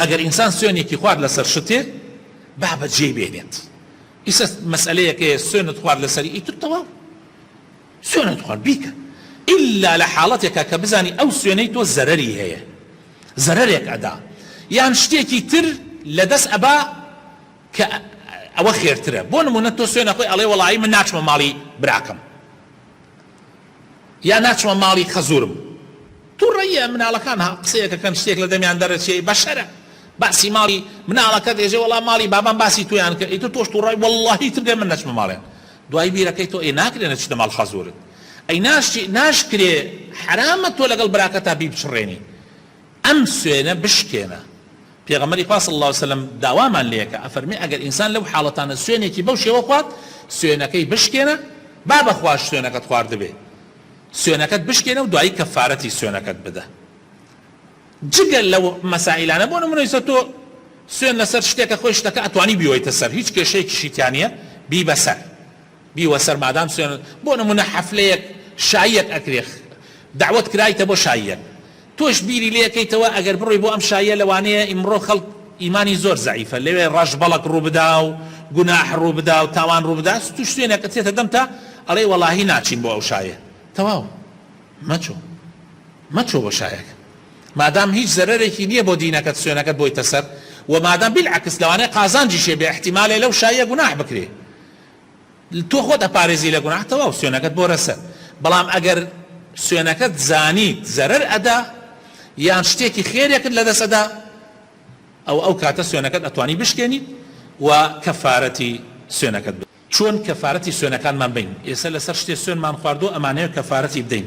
ئەگەر ئینسان سوێنێکی خوارد لەسەر شتێ با بە جێی بێنێت ئیسە مەسئلەیەکەیە سوێنت خوارد لەسەر ئیتر تەواو سوێنت خوارد بیکە ئللا لە حاڵەتێکە کە بزانی ئەو سوێنەی تۆ زەرری هەیە زەرێک ئەدا یان شتێکی تر لە دەست ئەبا کە ئەوە خێرترە بۆ نمونە تۆ سوێنە خۆی ئەڵێ وەڵی من ناچمە ماڵی براکەم یا ناچمە ماڵی خەزورم. توڕەییە مناڵەکان ها قسەیەک ئەکەن شتێک لە دەمیان دەرەچێی بەشەرە باسی ماڵی مناڵەکەت ئێژێ وەڵا ماڵی بابم باسی تۆیان کرد ئیتر تۆش توڕەی وەڵاهی ئیتر دێ من نەچمە ماڵێن دوای بیرەکەی تۆ ئێ ناکرێ نەچیتە ماڵ خەزورت ئەی ناشتی ناشکرێ حەرامە تۆ لەگەڵ براکەتا بیبچڕێنی ئەم سوێنە بشکێنە. پێغەمبەری خوا صلی اللە علیە و سلم داوامان لێکا ئەفەرمێ ئەگەر ئینسان لەو حاڵەتانە سوێنێکی بەو شێوە خوارد سوێنەکەی بشکێنە با بە خواش سوێنەکەت خواردبێ سوێنەکەت بشکێنە و دوایی کەفارەتی سوێنەکەت بدە جگە لەو مەسائلانە بۆ نمونە ئیسە تۆ سوێن لەسەر شتێکە خۆی شتەکە ئەتوانی بیۆیتە سەر هیچ کێشەیەکیشی تیانە بیبەسەر بیوە سەر مادام سوێن بۆ نمونە حەفلەیەک شاییەک ئەکرێ دەعوەت کرایتە بۆ شاییەک تۆش بیری لێ کەیتەوە ئەگەر بڕۆی بۆ ئەم شاییە لەوانەیە ئیمڕۆ خەڵک ئیمانی زۆر زەعیفە لەوێ ڕەش بەڵەک ڕوو بدا و گوناح ڕوو بدا و تاوان ڕوو بدا توش سوێنەکە چێتە دەمتا ئەڵێی وەڵاهی ناچین بۆ ئەو شایە تەواو مەچۆ مەچۆ بۆ شایەک مادام هیچ زەرەرێکی نییە بۆ دینەکەت سوێنەکەت بۆی تەسەر و مادام بیلعەکس لەوانەیە قازانجیشێ بێ احتیمالێ لەو شایە گوناح بکرێ تۆ خۆت ئەپارێزی لە گوناح تەواو سوێنەکەت بۆ رەسە بەڵام ئەگەر سوێنەکەت زانیت زەرەر ئەدا یان شتێکی خێرێکت لەدەست ئەدا ئەوە ئەو کاتە سوێنەکەت ئەتوانی بشکێنیت و کەفارەتی سوێنەکەت بدەیت. چۆن کەفارەتی سوێنەکانمان بەین؟ ئێسە لەسەر شتێ سوێنمان خواردوە ئەمانەوێ کەفارەتی بدەین.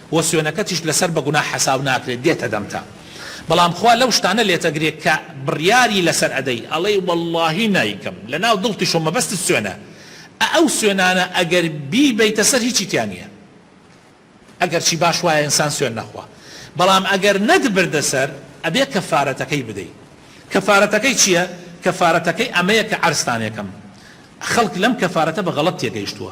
وە سوێنەکەتیشت لەسەر بە گوناح حەساو ناکرێت دێتە دەمتا بەڵام خوا لەو شتانە لێتەگرێ کە بڕیاری لەسەر ئەدەی ئەڵێی وەڵاهی نایکەم لەناو دڵتیش و مەبەستت سوێنە ئە ئەو سوێنانە ئەگەر بیبەیتە سەر هیچی تیا نیە ئەگەر چی باش وایە ئینسان سوێن نەخوا بەڵام ئەگەر نەتبردە سەر ئەبێ کەفارەتەکەی بدەی کەفارەتەکەی چیە کەفارەتەکەی ئەمەیە کە عەرزتانێکەم خەڵک لەم کەفارەتە بە غەڵەت تێگەیشتووە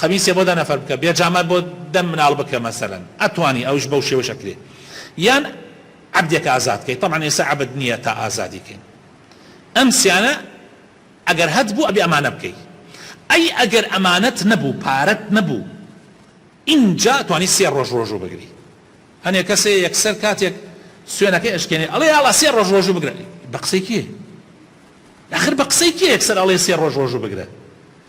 قەمیسێ بۆ دە نەفەر بکە بێ جامە بۆ دە مناڵ بکە مەسەلەن ئەتوانی ئەوش بەو شێوەش ئەکرێ یان عەبدێک ئازاد کەی تەبعەن ئێستا عەبد نییە تا ئازادی کەین ئەم سیانە ئەگەر هەت بوو ئەبێ ئەمانە بکەی ئەی ئەگەر ئەمانەت نەبوو پارەت نەبوو ئینجا توانی سێ ڕۆژ ڕۆژوو بگری هەنێ کەسێ یەکسەر کاتێک سوێنەکەی ئەشکێنێ ئەڵێ یاڵا سێ ڕۆژ ڕۆژوو بگرە بە قسەی کێ ئەخر بە قسەی کێ یەکسەر ئەڵێ سێ ڕۆژ ڕۆژوو بگرە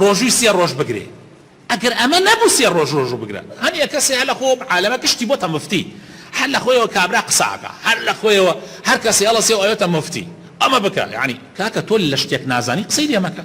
ڕۆژووی سێ ڕۆژ بگرێ ئەگەر ئەمە نەبوو سێ ڕۆژ ڕۆژوو بگرە هەر یەکەسێ هەر لەخۆ عالەمە کشتی بۆتە مفتی هەر لەخۆیەوە کابرا قساکا هەر لەخۆیەوە هەر کەسێ هەڵەسێ و ئەوێتە مفتی ئەمە بکە یانی کاکە تۆ لەشتێک نازانی قسەی لێ مەکە.